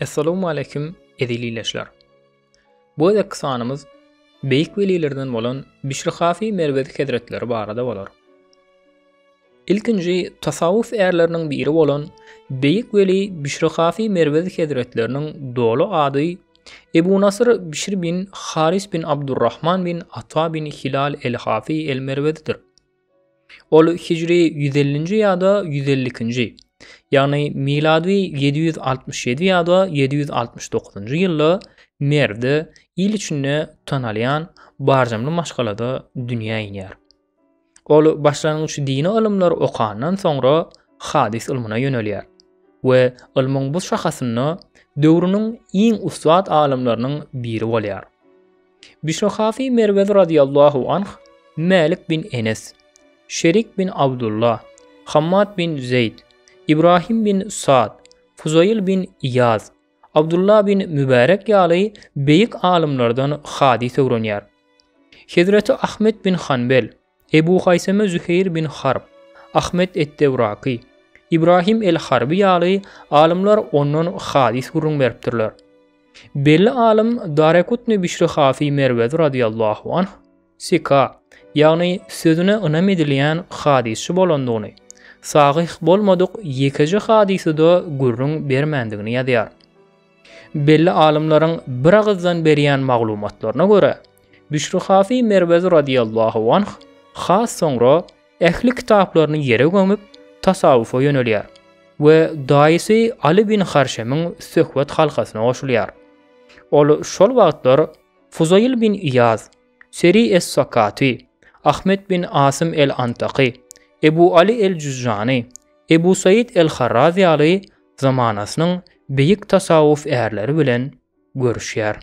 Essalamu aleýkum eziz ileçiler. Bu gezekki sanymyz beýik welilerden bolan Bişri Hafi Merwezi hezretleri barada bolar. Ilkinji tasawwuf ärleriniň biri bolan beýik weli Bişri Hafi Merwezi hezretleriniň doly ady Ebu Nasyr Bişr bin Haris bin Abdurrahman bin Ata bin Hilal el-Hafi el-Merwezidir. Ol hijri ýüz ellinji ýa-da ýüz elli ikinji, ýagny milady ýedi ýüz altmyş ýedi ýa-da ýedi ýüz altmyş dokuzynjy ýylda Merwde il içinde tanalýan barjamly maşgalada dünýä inýär. Ol başlangyç dini ylymlary okandan soňra hadys ylmyna ýönelýär we ylmyň bu şahasynda döwrüniň iň ussat alymlarynyň biri bolýar. Bişnahasy Merwezi radyýallahu anh, Mälik bin Enes, Şerik bin Abdulla, Hammad bin Zeýd, Ibrahim bin Sad, Fuzaýyl bin Iýaz, Abdulla bin Mübärek ýaly beýik alymlardan hadys öwrenýär. Hezreti Ahmet bin Hanbel, Ebu Haýseme Züheýr bin Harb, Ahmet et-Tewraky, Ibrahim el-Harby ýaly alymlar ondan hadys gürrüň beripdirler. Belli alym Darekutny Bişri Hafy Merwezi radýallahu anh sika, ýagny sözüne ynam edilýän hadysçy bolandygyny, sahyh bolmadyk ýekeje hadysy-da gürrüň bermändigini ýazýar. Belli alymlaryň biragyzdan berýän maglumatlaryna görä, Bişrihafy Merwezi radiyallahu anh has soňra ähli kitaplaryny ýere gömüp, tasawwufa ýönelýär we daýysy Aly bin Harşemiň söhbet halkasyna goşulýar. Ol şol wagtlar Fuzaýyl bin Iýaz, Seri es-Sakaty, Ahmet bin Asym el-Antaky, Ebu Aly el-Jüzjany, Ebu Saýyt el-Harraz ýaly zamanasynyň beýik tasawwuf ärleri bilen görüşýär.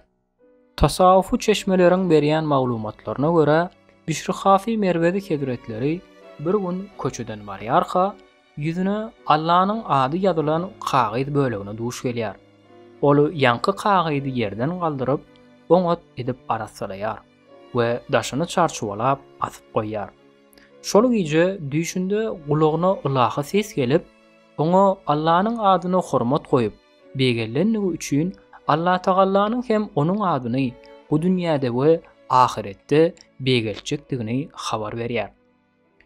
Tasawwufy çeşmeleriň berýän maglumatlaryna görä, Bişri Hafy Merwezi hezretleri bir gün köçeden barýarka, ýüzüne Allanyň ady ýazylan kagyz bölegine duş gelýär. Ol ýaňky kagyzy ýerden galdyryp, oňat edip arassalaýar we daşyny çarçuwalap asyp goýýar. Şol gije düýşünde gulagyna ylahy ses gelip, Oňa Allanyň adyna hormat goýup, begenlenligi üçin Allatagallanyň hem onuň adyny bu dünýäde we ahyretde begeltjekdigini habar berýär.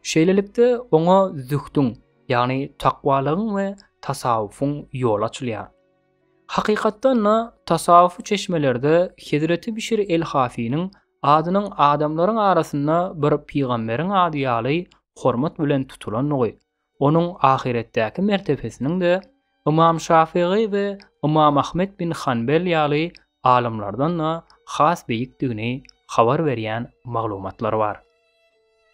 Şeýlelikde, oňa zühdüň, ýagny takwalygyň we tasawwufyň ýoly açylýar. Hakykatdan-da, tasawwufy çeşmelerde hezreti Bişr el-Hafiniň adynyň adamlaryň arasynda bir pygamberiň ady ýaly hormat bilen tutulandygy, Onuň ahyretdäki mertebesiniň-de Ymam Şafygy we Ymam Ahmet bin Hanbel ýaly alymlardan-da has beýikdigini habar berýän maglumatlar bar.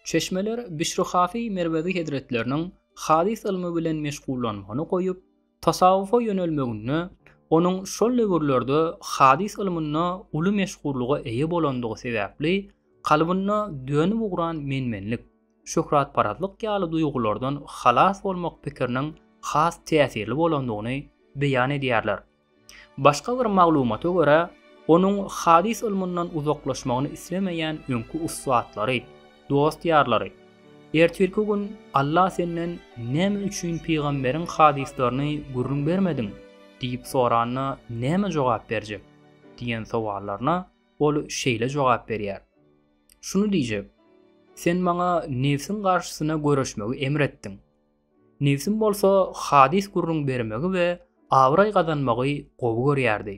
Çeşmeler Bişri Hafy Merwezi hezretleriniň hadys ylmy bilen meşgullanmagyny goýup, Tasawwufa ýönelmeginde onuň şol döwürlerde hadys ylmynda uly meşhurlyga eýe bolandygy sebäpli kalbynda dönüp ugran menmenlik, şöhratparazlyk ýaly duýgulardan halas bolmak pikiriniň has täsirli bolandygyny beýan edýärler. Başga bir maglumata görä, onuň hadys ylmyndan uzaklaşmagyny islemeýän öňki ussatlary, Dost-ýarlary, ertirki gün Alla senden näme üçin pygamberiň hadyslaryny gürrüň bermediň? diýip soranda näme jogap berjek? diýen sowallaryna ol şeýle jogap berýär. Şuny diýjek, Sen maňa nebsiň garşysyna göreşmegi emr etdiň. Nebsim bolsa hadys gürrüň bermegi we abraý gazanmagy gowy görýärdi.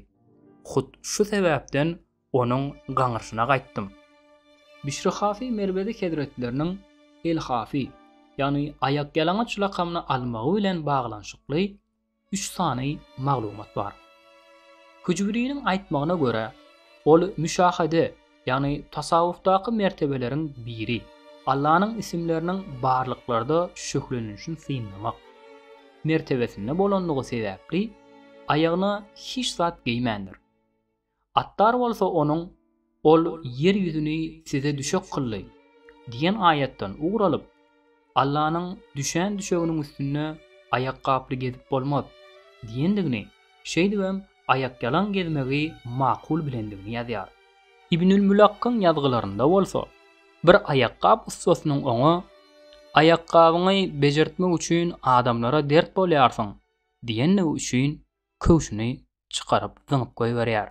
Hut şu sebäpden Onuň gaňrysyna gaýtdym. Bişri Hafy Merwezi hezretleriniň El-Hafy, ýagny Aýakýalaňaç lakamyny almagy bilen baglanyşykly üç sany maglumat bar. Hüjwiriniň aýtmagyna görä, ol müşahede, ýagny tasawwufdaky mertebeleriň biri, Allanyň isimleriniň barlyklarda şöhlelenişini synlamak, mertebesinde bolandygy sebäpli, aýagyna hiç zat geýmändir. Attar bolsa onuň, Ol ýer ýüzüni size düşek kyldy diýen aýatdan ugur alyp, Allanyň düşän düşeginiň üstünde aýakgaply gezip bolmaz diýendigini, şeýdibem aýakýalaň gezmegi makul bilendigini ýazýar. Ibnül Mülakkyň ýazgylarynda bolsa, bir aýakgap ussasynyň oňa, Aýakgabyňy bejertmek üçin adamlara dert bolýarsyň diýendigi üçin köwşüni çykaryp zyňyp goýberýär.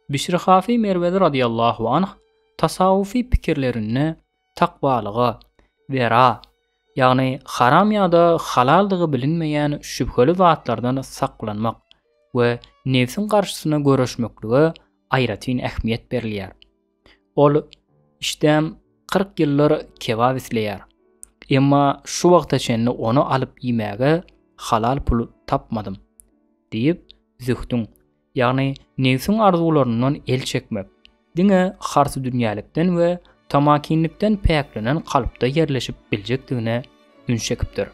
Bişr Hafy Merwezi radyýallahu anh tasawwufy pikirlerinde takwalyga, wera, ýagny haram ýa-da halaldygy bilinmeýän şübheli zatlardan saklanmak we nebsiň garşysyna göreşmeklige aýratyn ähmiýet berilýär. Ol işdäm kyrk ýyllar kebap isleýär. Emma şu wagta çenli ony alyp iýmäge halal pul tapmadym, diýip, zühdüň, ýagny nebsiň arzuwlaryndan el çekmek, diňe harsydünýälikden we tamakinlikden päklenen kalpda ýerleşip biljekdigine üns çekipdir.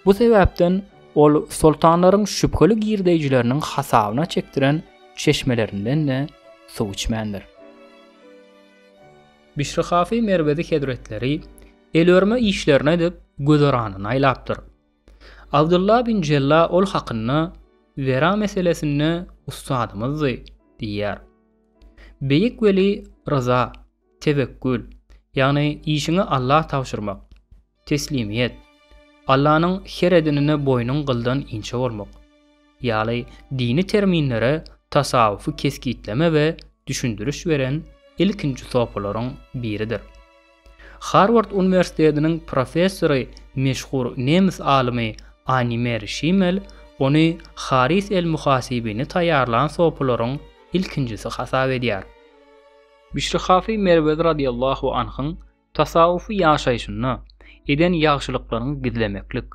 Bu sebäpden ol soltanlaryň şübheli girdeýjileriniň hasabyna çekdiren çeşmelerinden-de suw içmändir. Bişri Hafy Merwezi hezretleri el örme işlerini edip, güzeranyny aýlapdyr. Abdylla bin Jella ol hakynda, Wera meselesinde ussadymyzdy diýýär. Beýik weli Ryza Tewekkül, ýagny işiňi Alla tabşyrmak. Teslimiýet, Allanyň her edenine boýnuň gyldan inçe bolmak. Ýaly dini terminlere tasawwufy kesgitleme we düşündiriş beren ilkinji sopylaryň biridir. Harward uniwersitetiniň professory meşhur nemes alymy Animer Şimel ony Haris el-Muhasibini taýýarlan sopylaryň ilkinjisi hasap edýär. Bişri Hafy Merwezi radiyallahu anhyň tasawwufy ýaşaýşynda eden ýagşylyklaryňy gizlemeklik,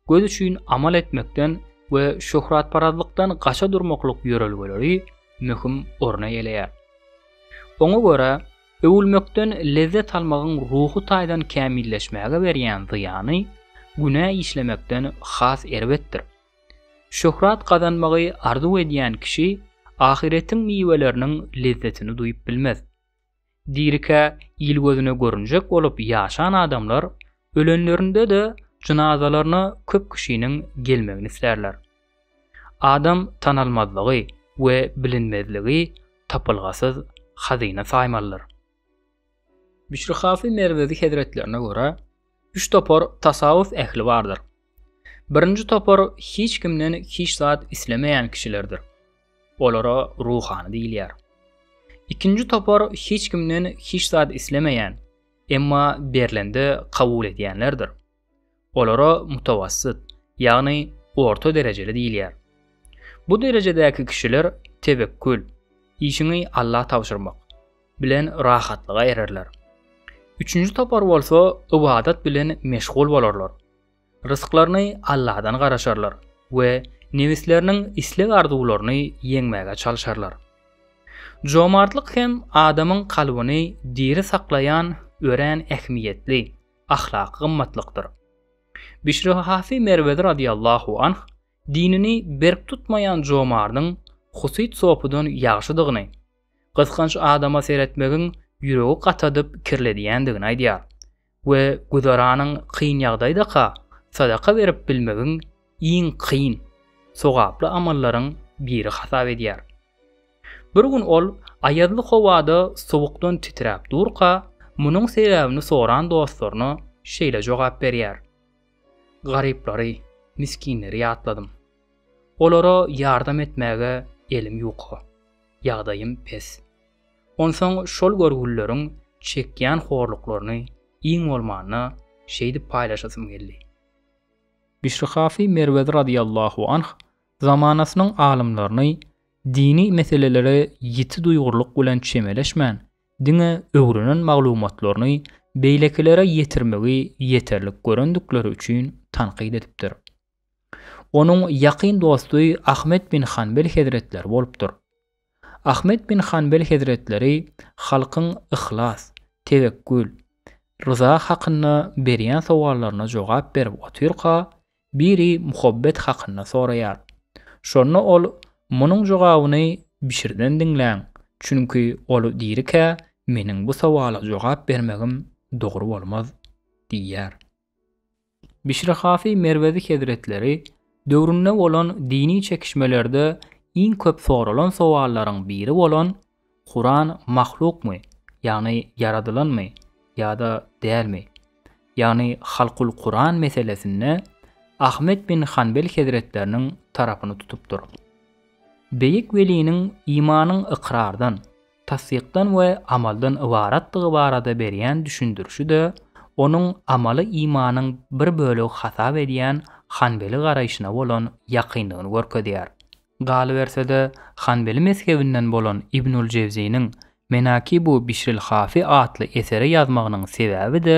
göz üçin amal etmekden we şöhratparazlykdan gaça durmaklyk ýörelgeleri möhüm orun eýeleýär. Oňa görä, öwülmekden lezzet almagyň ruhy taýdan kämilleşmäge berýän zyýany günä işlemekden has erbetdir. Şöhrat gazanmagy arzuw edýän kişi ahyretiň miweleriniň lezzetini duýup bilmez. Dirikä il gözüne görünjek bolup ýaşan adamlar ölenlerinde-de jynazalaryna köp kişiniň gelmegini islärler. Adam tanalmazlygy we bilinmezligi tapylgasyz hazyna saýmalydyr. Bişrihafy Merwezi hezretlerine görä, üç topar tasawwuf ähli bardyr. Birinji topar hiç kimden hiç zat islemeýän kişilerdir. Olara ruhany diýilýär. Ikinji topar hiç kimden hiç zat islemeýän, emma berlende kabul edýänlerdir. Olara mutawassyt, ýagny orta derejeli diýilýär. Bu derejedäki kişiler tewekkül, işiňi Alla tabşyrmak, bilen rahatlyga ererler. Üçünji topar bolsa ybadat bilen meşgul bolarlar. Rysklaryny Alladan garaşarlar we nebisleriniň isleg-arzuwlaryny ýeňmäge çalşarlar. Jomartlyk hem adamyň kalbyny diri saklaýan örän ähmiýetli, ahlaky gymmatlykdyr. Bişrihafy Merwezi radyýallahu anh dinini berk tutmaýan jomardyň husyt sopydan ýagşydygyny, gysganç adama seretmegiň ýüregi gatadyp kirledýändigini aýdýar. we güzeranyň kyn ýagdaýdaka sadaka berip bilmegiň iň kyn, sogaply amallaryň biri hasap edýär. Bir gün ol aýazly howada sowukdan titräp durka, munuň sebäbini soran dostlaryna şeýle jogap berýär, Garyplary, misginleri ýatladym. Olara ýardam etmäge elim ýuka, ýagdaýym pes. Onsoň şol görgülileriň çekýän horluklaryny iň bolmanda şeýdip paýlaşasym geldi. Bişrihafy Merwezi radyýallahu anh zamanasynyň alymlaryny dini meselelere ýiti duýgurlyk bilen çemeleşmän, diňe öwrenen maglumatlaryny beýlekilere ýetirmegi ýeterlik görendikleri üçin tankyt edipdir. Onuň ýakyn dosty Ahmet bin Hanbel hezretleri bolupdyr. Ahmet bin Hanbel hezretleri halkyň yhlas, tewekkül, ryza hakynda berýän sowallaryna jogap berip otyrka, biri muhabbet hakynda soraýar. Şonda ol, Munuň jogabyny Bişirden diňläň, çünki ol dirikä meniň bu sowala jogap bermegim dogry bolmaz diýýär. Bişri Hafi Merwezi hezretleri döwründe bolan dini çekişmelerde iň köp soralan sowallaryň biri bolan Kuran mahlukmy, ýagny ýaradylanmy, ýa-da dälmi, ýagny Halkul Kuran meselesinde Ahmet bin Hanbel hezretleriniň tarapyny tutupdyr. Beýik weliniň imanyň ykrardan, tassykdan we amaldan ybaratdygy barada berýän düşündirişi-de onuň amaly imanyň bir bölegi hasap edýän Hanbeli garaýşyna bolan ýakynlygyny görkezýär. Galyberse-de, Hanbeli mezhebinden bolan Ibnül Jewziniň Menakibu Bişril Hafi atly eseri ýazmagynyň sebäbi-de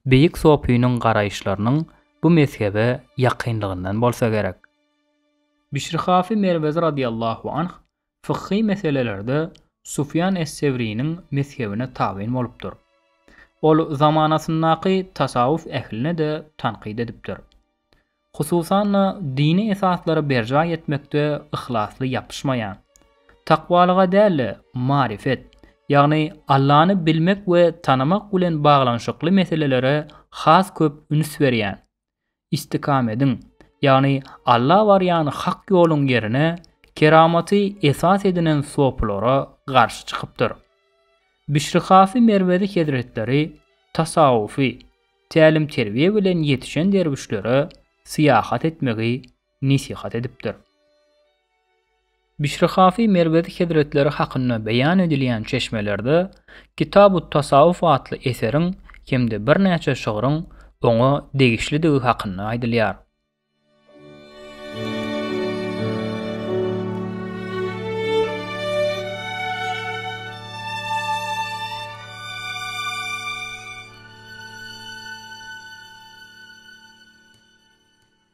beýik sofiniň garaýyşlarynyň bu mezhebe ýakynlygyndan bolsa gerek. Bişr Hafi Merwezi radiyallahu anh Fykhy meselelerde Sufýan es-Sewriniň mezhebine tabyn bolupdyr. Ol zamanasyndaky tasawwuf ähline-de tankyt edipdir. Hususan-da, dini esaslary berjaý etmekde yhlasly ýapyşmaýan, takwalyga däl-de, maryfet, ýagny Allany bilmek we tanamak bilen baglanyşykly meselelere has köp üns berýän, Istikamediň, ýagny Alla barýan hak ýoluň ýerine keramaty esas edinen sopylara garşy çykypdyr. Bişrihafy Merwezi hezretleri tasawwufy tälim-terbiýe bilen ýetişen derwüşlere syýahat etmegi nesihat edipdir. Bişri Hafy Merwezi hezretleri hakynda beýan edilýän çeşmelerde Kitabut-Tasawuf atly eseriň hem-de birnäçe şygryň oňa degişlidigi hakynda aýdylýar.